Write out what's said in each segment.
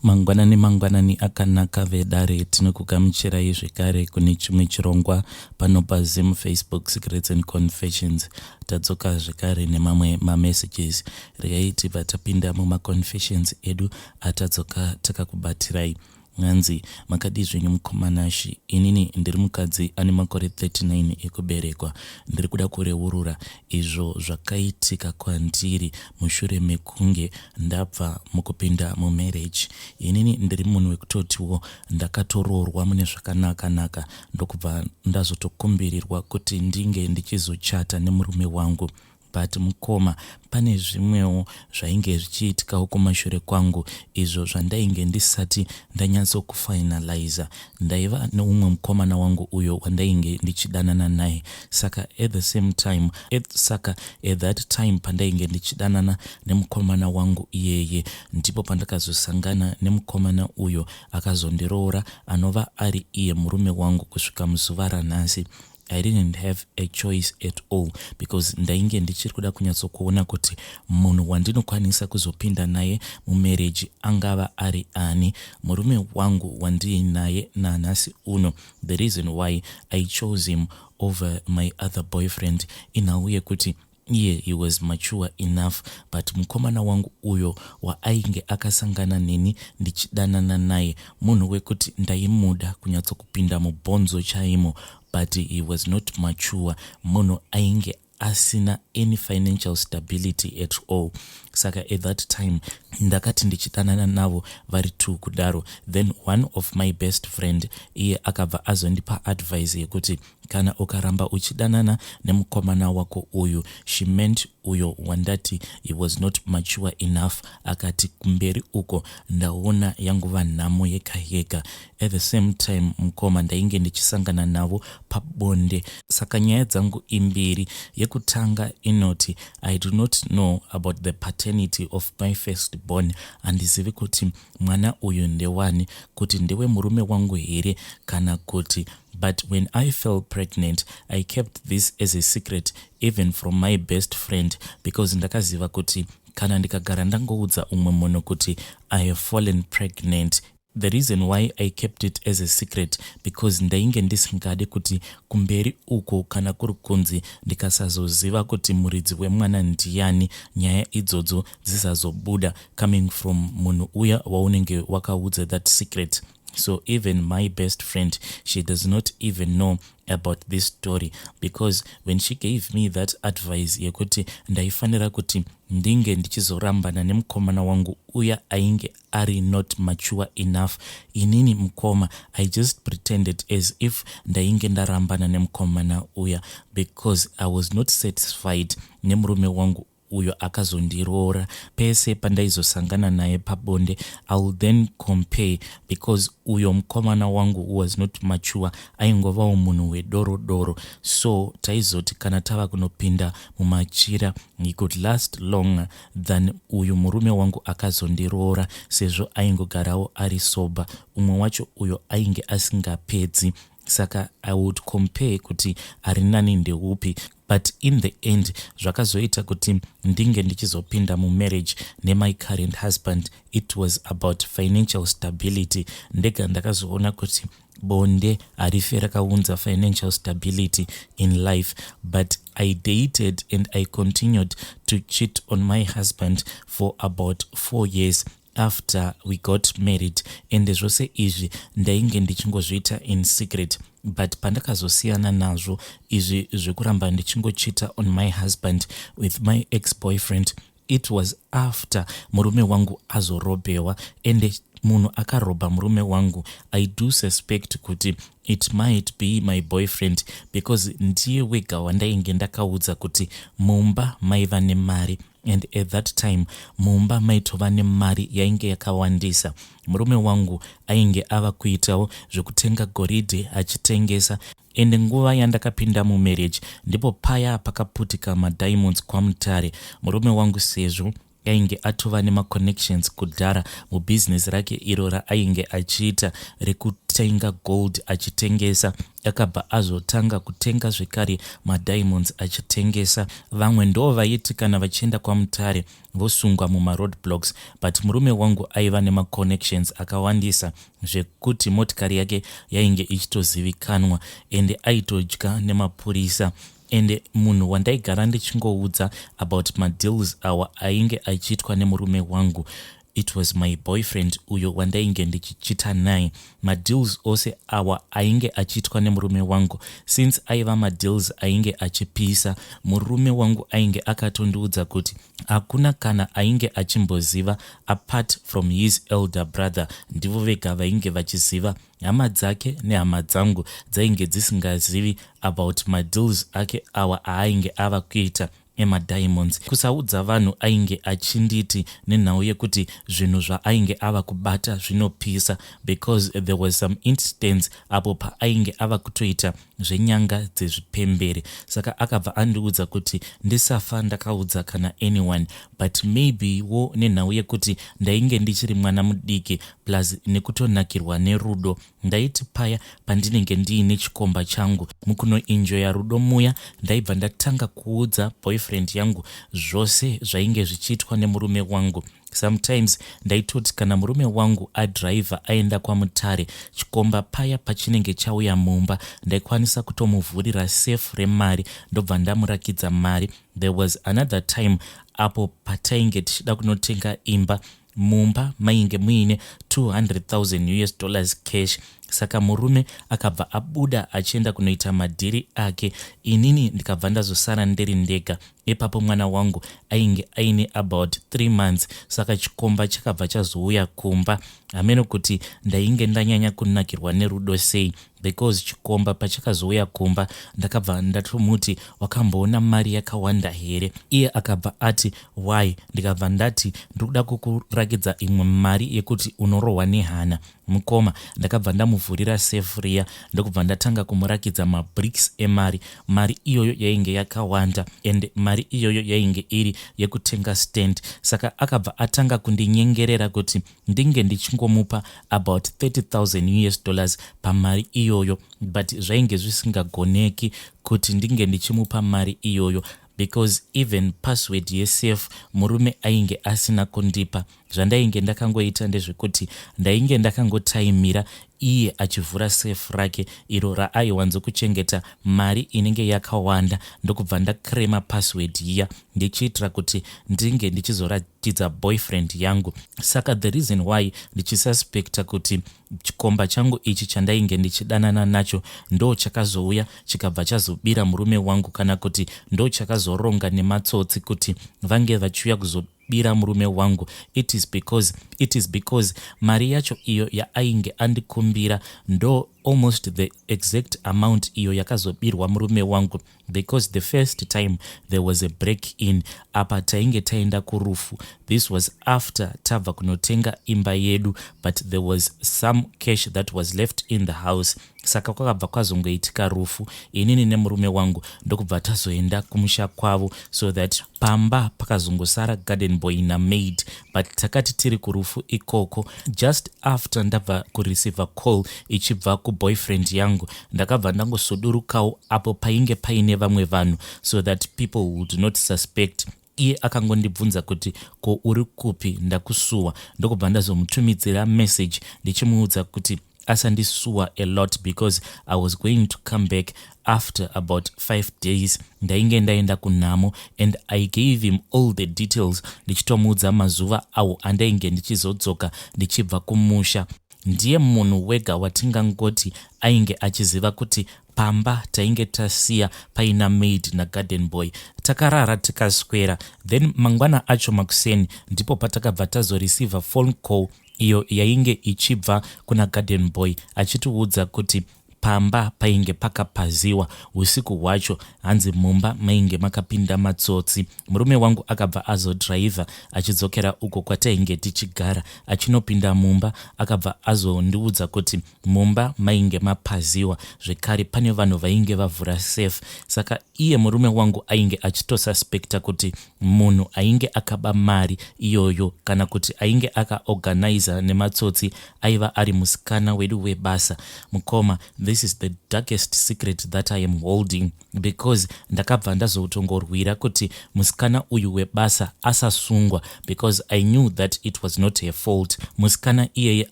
Mangwanani mangwanani akanaka vedare tinokugamuchirai zvekare kune chimwe chirongwa pano paZim Facebook Secrets and Confessions. Tadzoka zvekare nemamwe mamessages. Regai tibva tapinda mumaconfessions edu atadzoka takakubatirai. Nhanzi, makadii zvenyu mukomana Shi? Inini ndiri mukadzi ane makore 39 ekuberekwa. Ndiri kuda kureurura izvo zvakaitika kwandiri mushure mekunge Ndabva mukupinda mu marriage inini ndiri munhu wekutotiwo ndakatoroorwa mune zvakanaka naka ndokubva ndazotokumbirirwa kuti ndinge ndichizochata nemurume wangu but mukoma pane zvimwewo zvainge zvichiitikawo kumashure kwangu izvo zvandainge ndisati ndanyatsokufinalizer Ndaiva neumwe mukomana wangu uyo wandainge ndichidanana naye saka at the same time at saka at that time pandainge ndichidanana nemukomana wangu iyeye ndipo pandakazosangana nemukomana uyo akazondiroora anova ari iye murume wangu kusvika muzuva ranhasi I didn't have a choice at all because ndainge ndichiri kuda kunyatsokuona kuti munhu wandinokwanisa kuzopinda naye mumereji angava ari ani murume wangu wandiinaye nanhasi uno the reason why i chose him over my other boyfriend inhau yekuti Iye he was mature enough but mukomana wangu uyo waainge akasangana neni ndichidanana naye munhu wekuti ndaimuda kunyatsokupinda mubhonzo chaimo but he was not mature munhu ainge asina any financial stability at all saka at that time ndakati ndichidanana navo vari two kudaro then one of my best friend iye akabva azondipa advice yekuti Kana ukaramba uchidanana nemukomana wako uyu, she meant uyo wandati he was not mature enough, akati kumberi uko ndaona yangova nhamo yega yega. At the same time mukoma ndainge ndichisangana navo pabonde saka nyaya dzangu imbiri. Yekutanga inoti I do not know about the paternity of my first born, handizivi kuti mwana uyu ndewani, kuti ndewe murume wangu here kana kuti But when I fell pregnant I kept this as a secret even from my best friend because ndakaziva kuti kana ndikagara ndangoudza umwe munhu kuti I have fallen pregnant The reason why I kept it as a secret because ndainge ndisingade kuti kumberi uko kana kuri kunzi ndikasazoziva kuti muridzi wemwana ndiyani nyaya idzodzo dzisazobuda coming from munhu uya waunenge wakaudza that secret. So even my best friend, she does not even know about this story because when she gave me that advice yekuti ndaifanira kuti ndinge ndichizorambana nemukomana wangu uya ainge ari not mature enough inini mukoma i just pretended as if ndainge ndarambana nemukomana uya because i was not satisfied nemurume wangu uyo akazondiroora pese pandaizosangana naye pabonde i will then compare because uyo mukomana wangu was not mature aingovawo munhu wedoro doro so taizoti kana tava kunopinda mumachira he could last longer than uyu murume wangu akazondiroora sezvo aingogarawo ari sober umwe wacho uyo ainge asingapedzi saka i would compare kuti ari nani ndeupi but in the end zvakazoita kuti ndinge ndichizopinda mumarriage nemai current husband it was about financial stability ndega ndakazoona kuti bonde harife rakaunza financial stability in life but i dated and i continued to cheat on my husband for about four years after we got married ende zvose izvi ndainge ndichingozviita in secret but pandakazosiyana nazvo izvi zvekuramba ndichingochita on my husband with my ex boyfriend it was after murume wangu azorobewa ende munhu akarobha murume wangu i do suspect kuti it might be my boyfriend because ndiye wega wandainge ndakaudza kuti mumba maiva nemari and at that time mumba maitova nemari yainge yakawandisa murume wangu ainge ava kuitawo zvekutenga goridhe achitengesa ende nguva yandakapinda mumarriage ndipo paya pakaputika madiamonds kwamutare murume wangu sezvo ainge atova nemaconnections kudhara mubhizinesi rake iro raainge achiita rekutenga gold achitengesa Akabva azotanga kutenga zvekare madiamonds achitengesa. Vamwe ndoo vaiti kana vachienda kwaMutare vosungwa mumaroad blocks but murume wangu aiva nemaconnections akawandisa zvekuti motikari yake yainge ichitozivikanwa ende aitodya nemapurisa ende munhu wandaigara ndichingoudza about madeals awa ainge achiitwa nemurume wangu It was my boyfriend uyo wandainge ndichichita naye. Madeals ose awa ainge achiitwa nemurume wangu. Since aiva madeals ainge achipisa, murume wangu ainge akatondiudza kuti hakuna kana ainge achimboziva apart from his elder brother. Ndivo vega vainge vachiziva. Hama dzake nehama dzangu dzainge dzisingazivi about madeals ake awa aainge ava kuita. ema diamonds kusaudza vanhu ainge achinditi nenhau yekuti zvinhu zvaainge ava kubata zvinopisa because there was some instance apo paainge ava kutoita zvenyanga dzezvipembere saka akabva andiudza kuti ndisafa ndakaudza kana anyone but maybe wo nenhau yekuti ndainge ndichiri mwana mudiki plus nekutonakirwa nerudo Ndaiti paya pandinenge ndiine chikomba changu mukunoenjoya rudo muya ndaibva ndatanga kuudza boyfriend yangu zvose zvainge zvichiitwa nemurume wangu. Sometimes ndaitoti kana murume wangu adriver aenda kwaMutare chikomba paya pachinenge chauya mumba ndaikwanisa kutomuvhurira safe remari ndobva ndamurakidza mari. There was another time apo patainge tichida kunotenga imba Mumba mainge muine 200,000 us dollars cash saka murume akabva abuda achienda kunoita madhiri ake inini ndikabva ndazosara ndiri ndega ipapo mwana wangu ainge aine about 3 months saka chikomba chakabva chazouya kumba hameno kuti ndainge ndanyanya kunakirwa nerudo sei Because chikomba pachakazouya kumba ndakabva ndatomuti wakamboona mari yakawanda here iye akabva ati why ndikabva ndati ndikuda kukurakidza imwe mari yekuti unorohwa nehana mukoma ndakabva ndamuvhurira safe riya ndokubva ndatanga kumurakidza mabricks emari mari iyoyo yainge yakawanda and mari iyoyo yainge iri yekutenga stand saka akabva atanga kundinyengerera kuti ndinge ndichingomupa about 30000 us dollars pamari iyoyo but zvainge zvisingagoneki kuti ndinge ndichimupa mari iyoyo because even password yesafe murume ainge asina kundipa zvandainge ndakangoita ndezvekuti ndainge ndakangotaimira iye achivhura safe rake iro raaiwanzo kuchengeta mari inenge yakawanda ndokubva ndacrema password iya ndichiitira kuti ndinge ndichizoratidza boyfriend yangu saka the reason why ndichisuspecta kuti chikomba changu ichi chandainge ndichidanana nacho ndo chakazouya chikabva chazobira murume wangu kana kuti ndo chakazoronga nematsotsi kuti vange vachiuya kuzo bira murume wangu it is because it is because mari yacho iyo yaainge andikumbira ndo almost the exact amount iyo yakazobirwa murume wangu because the first time there was a break in apa tainge taenda kurufu this was after tabva kunotenga imba yedu but there was some cash that was left in the house Saka kwakabva kwazongoitika rufu inini nemurume wangu ndokubva tazoenda kumusha kwavo so that pamba pakazongosara garden boy namaid but takati tiri kurufu ikoko just after ndabva kureceiver call ichibva kuboyfriend yangu ndakabva ndangosudurukawo apo painge paine vamwe vanhu so that people would not suspect Iye akangondibvunza kuti ko uri kupi ndakusuwa ndokubva ndazomutumidzira message ndichimuudza kuti asandisuwa a lot because I was going to come back after about five days ndainge ndaenda kunhamo and I gave him all the details ndichitomuudza mazuva awo andainge ndichizodzoka ndichibva kumusha ndiye munhu wega watingangoti ainge achiziva kuti Pamba tainge tasiya paina maid nagarden boy. Takarara tikaswera then mangwana acho makuseni ndipo patakabva tazoreceiver phone call iyo yainge ichibva kuna garden boy achitiudza kuti pamba painge pakapaziwa usiku hwacho hanzi mumba mainge makapinda matsotsi. Murume wangu akabva azodriver achidzokera uko kwatainge tichigara achinopinda mumba akabva azondiudza kuti Mumba mainge mapaziwa zvekare pane vanhu vainge vavhura safe saka iye murume wangu ainge achitosuspecta kuti munhu ainge akaba mari iyoyo kana kuti ainge akaorganizer nematsotsi aiva ari musikana wedu webasa. Mukoma, this is the darkest secret that I am holding. because ndakabva ndazotongorwira kuti musikana uyu webasa asasungwa because i knew that it was not her fault musikana iyeye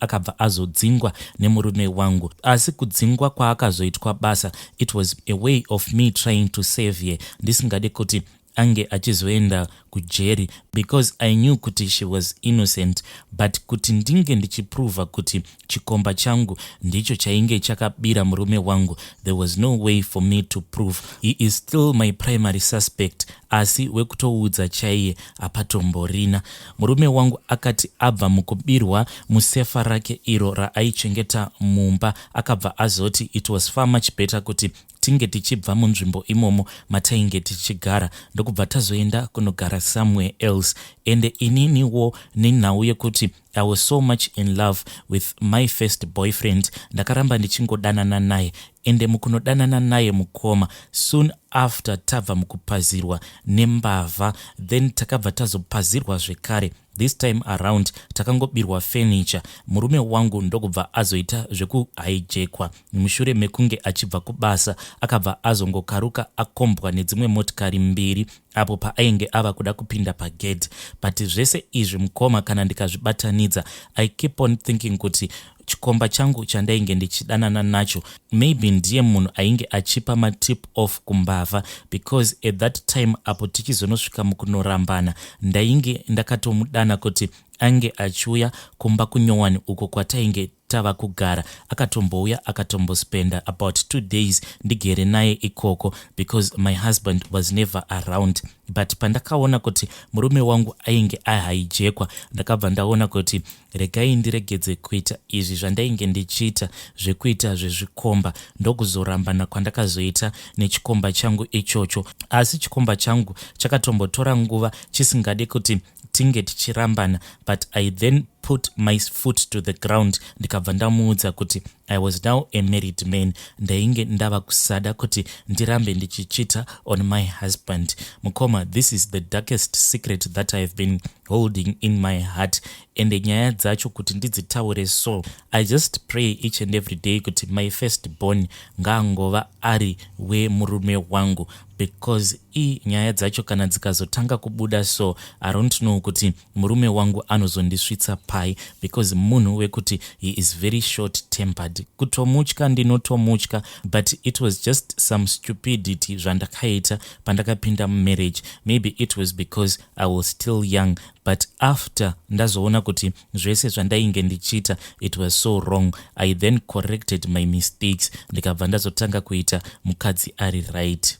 akabva azodzingwa nemurume wangu asi kudzingwa kwaakazoitwa basa it was a way of me trying to save her ndisingade kuti ange achizoenda kujeri because i knew kuti she was innocent but kuti ndinge ndichiprova kuti chikomba changu ndicho chainge chakabira murume wangu there was no way for me to prove he is still my primary suspect asi wekutoudza chaiye apatomborina murume wangu akati abva mukubirwa musefa rake iro raaichengeta mumba akabva azoti it was far much better kuti tinge tichibva munzvimbo imomo matainge tichigara ndokubva tazoenda kunogara somewhere else ende ininiwo nenhau yekuti i was so much in love with my first boyfriend ndakaramba ndichingodanana naye ende mukunodanana naye mukoma soon after tabva mukupazirwa nembavha then takabva tazopazirwa zvekare This time around takangobirwa furniture murume wangu ndokubva azoita zvekuhijekwa mushure mekunge achibva kubasa akabva azongokaruka akombwa nedzimwe motikari mbiri apo paainge ava kuda kupinda pagedhi but zvese izvi mukoma kana ndikazvibatanidza i keep on thinking kuti chikomba changu chandainge ndichidanana nacho maybe ndiye munhu ainge achipa matip off kumbavha because at that time apo tichizonosvika mukunorambana ndainge ndakatomudana kuti ange achiuya kumba kunyowani uko kwatainge tava kugara akatombouya akatombospenda about two days ndigere naye ikoko because my husband was never around but pandakaona kuti murume wangu ainge ahaijekwa ndakabva ndaona kuti Regai ndiregedze kuita izvi zvandainge ndichiita zvekuita zvezvikomba ndokuzorambana kwandakazoita nechikomba changu ichocho. Asi chikomba changu chakatombotora nguva chisingade kuti tinge tichirambana but I then put my foot to the ground ndikabva ndamuudza kuti I was now a married man ndainge ndava kusada kuti ndirambe ndichichita on my husband. Mukoma, this is the darkest secret that I have been holding in my heart ende nyaya dzacho kuti ndidzitaure so i just pray each and every day kuti my first born ngaangova ari wemurume wangu because i nyaya dzacho kana dzikazotanga kubuda so i don't know kuti murume wangu anozondisvitsa pai because munhu wekuti he is very short tempered kutomutya ndinotomutya but it was just some stupidity zvandakaita pandakapinda mumarriage maybe it was because I was still young but after ndazoona kuti zvese zvandainge ndichiita it was so wrong i then corrected my mistakes ndikabva ndazotanga kuita mukadzi ari right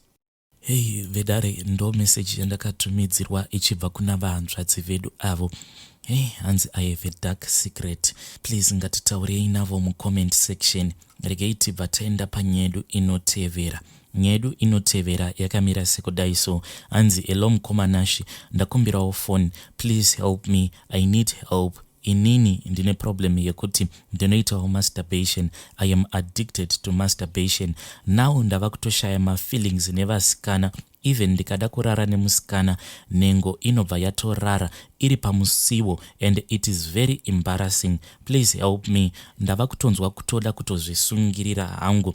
hei vedare ndo meseji yandakatumidzirwa ichibva kuna vahanzvadzi vedu avo hei hanzi i have a dark secret please ngatitaurei navo mucomment section regei tibva taenda panyedu inotevera Nyaya yedu inotevera yakamira sekudai so hanzi hello mukoma Nashy ndakumbirawo phone please help me I need help inini ndine problem yekuti ndinoitawo masturbation I am addicted to masturbation now ndava kutoshaya mafeelings nevasikana even ndikada kurara nemusikana nhengo inobva yatorara iri pamusiwo and it is very embarrassing please help me ndava kutonzwa kutoda kutozvisungirira hangu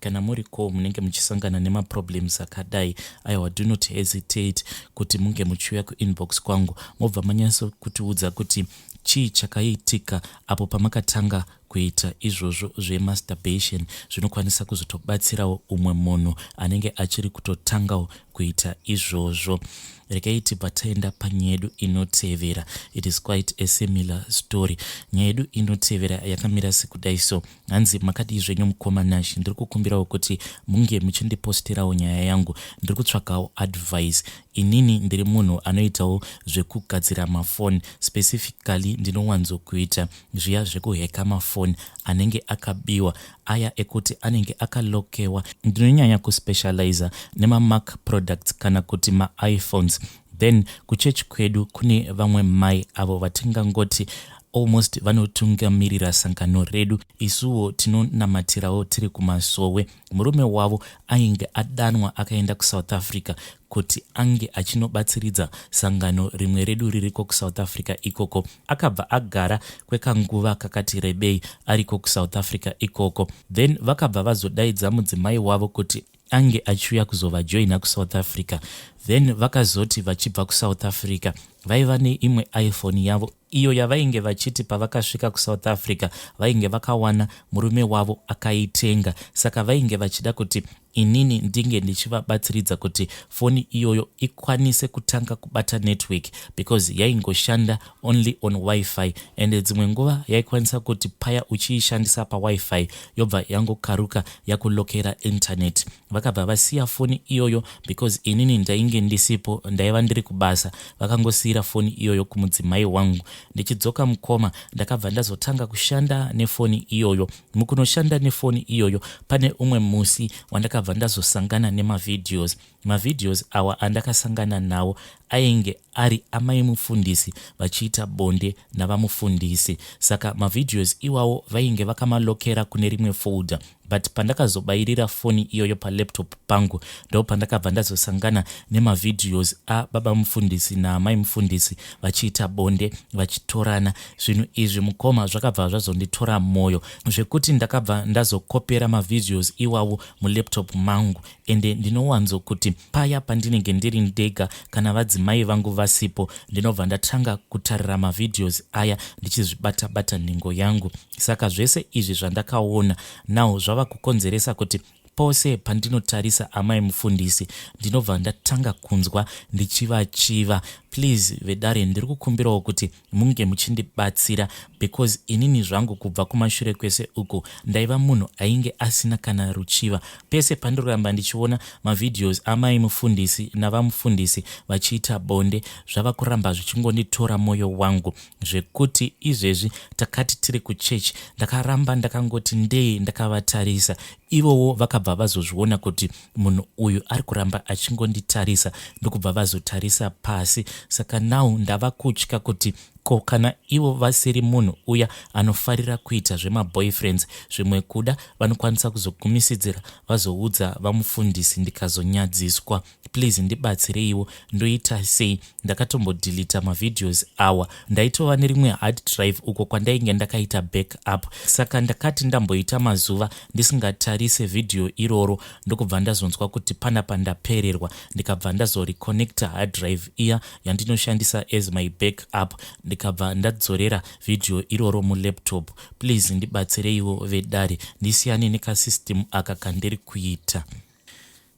kana muri ko munenge muchisangana nemaproblems akadai aiwa do not hesitate kuti munge muchiuya kuinbox kwangu mobva manyaso kutiudza kuti chii chakaitika apo pamakatanga kuita izvozvo zvemasturbation zvinokwanisa kuzotobatsirawo umwe munhu anenge achiri kutotangawo kuita izvozvo regai tibva taenda panyaya yedu inotevera it is quite a similar story nyaya yedu inotevera yakamira sekudai so Hanzi makadii zvenyu mukoma Nash ndiri kukumbirawo kuti munge muchindipostirawo nyaya yangu ndiri kutsvagawo advice inini ndiri munhu anoitawo zvekugadzira mafoni specifically ndinowanzokuita zviya zvekuheka mafoni anenge akabiwa aya ekuti anenge akalokewa ndinonyanya kuspecializa nemamac products kana kuti maiphones Then kuchurch kwedu kune vamwe mai avo vatingangoti almost vanotungamirira sangano redu isuwo tinonamatirawo tiri kumasowe murume wavo ainge adanwa akaenda kusouth africa kuti ange achinobatsiridza sangano rimwe redu ririko kusouth africa ikoko akabva agara kwekanguva kakati rebei ariko kusouth africa ikoko then vakabva vazodaidza mudzimai wavo kuti ange achiuya kuzovajoina kusouth africa then vakazoti vachibva kusouth africa vaiva neimwe iphone yavo iyo yavainge vachiti pavakasvika kusouth africa vainge vakawana murume wavo akaitenga saka vainge vachida kuti inini ndinge ndichivabatsiridza kuti foni iyoyo ikwanise kutanga kubata network because yaingoshanda only on wifi and dzimwe nguva yaikwanisa kuti paya uchiishandisa pawifi yobva yangokaruka yakulokera internet. Vakabva vasiya foni iyoyo because inini ndainge ndisipo ndaiva ndiri kubasa vakangosiira foni iyoyo kumudzimai wangu. Ndichidzoka mukoma ndakabva ndazotanga kushanda nefoni iyoyo. Mukunoshanda nefoni iyoyo pane umwe musi wandakabva ndazosangana nemavideos. Mavideos awa andakasangana nawo ainge ari amai mufundisi vachiita bonde navamufundisi saka mavideos iwawo vainge vakamalokera kune rimwe folder but pandakazobairira foni iyoyo palaptop pangu ndopandakabva ndazosangana nemavideos ababa mufundisi naamai mufundisi vachiita bonde vachitorana zvinhu izvi mukoma zvakabva zvazonditora mwoyo zvekuti ndakabva ndazokopera mavideos iwawo mulaptop mangu ende ndinowanzo kuti paya pandinenge ndiri ndega kana vadzimai vangu vasipo ndinobva ndatanga kutarira mavideos aya ndichizvibata bata nhengo yangu saka zvese izvi zvandakaona now zvava kukonzeresa kuti pose pandinotarisa amai mufundisi ndinobva ndatanga kunzwa ndichivachiva please vedare ndiri kukumbirawo kuti munge muchindibatsira because inini zvangu kubva kumashure kwese uku ndaiva munhu ainge asina kana ruchiva pese pandiramba ndichiona mavideos amai mufundisi navamufundisi vachiita bonde zvava kuramba zvichingonditora mwoyo wangu zvekuti izvezvi takati tiri kuchechi ndakaramba ndakangoti ndee ndakavatarisa ivowo vakabva vazozviona kuti munhu uyu ari kuramba achingonditarisa ndokubva vazotarisa pasi saka now ndava kutya kuti ko kana ivo vasiri munhu uya anofarira kuita zvemaboyfriends zvimwe kuda vanokwanisa kuzogumisidzira vazoudza vamufundisi ndikazonyadziswa please ndibatsireiwo ndoita sei ndakatombodhilita mavideos awa ndaitova nerimwe hard drive uko kwandainge ndakaita back up saka ndakati ndamboita mazuva ndisingatarise vhidhiyo iroro ndokubva ndazonzwa kuti pana pandapererwa ndikabva ndazoreconnecta hard drive iya yandinoshandisa as my back up ndikabva ndadzorera vhidhiyo iroro mulaptop please ndibatsireiwo vedare ndisiyane nekasystem aka kandiri kuita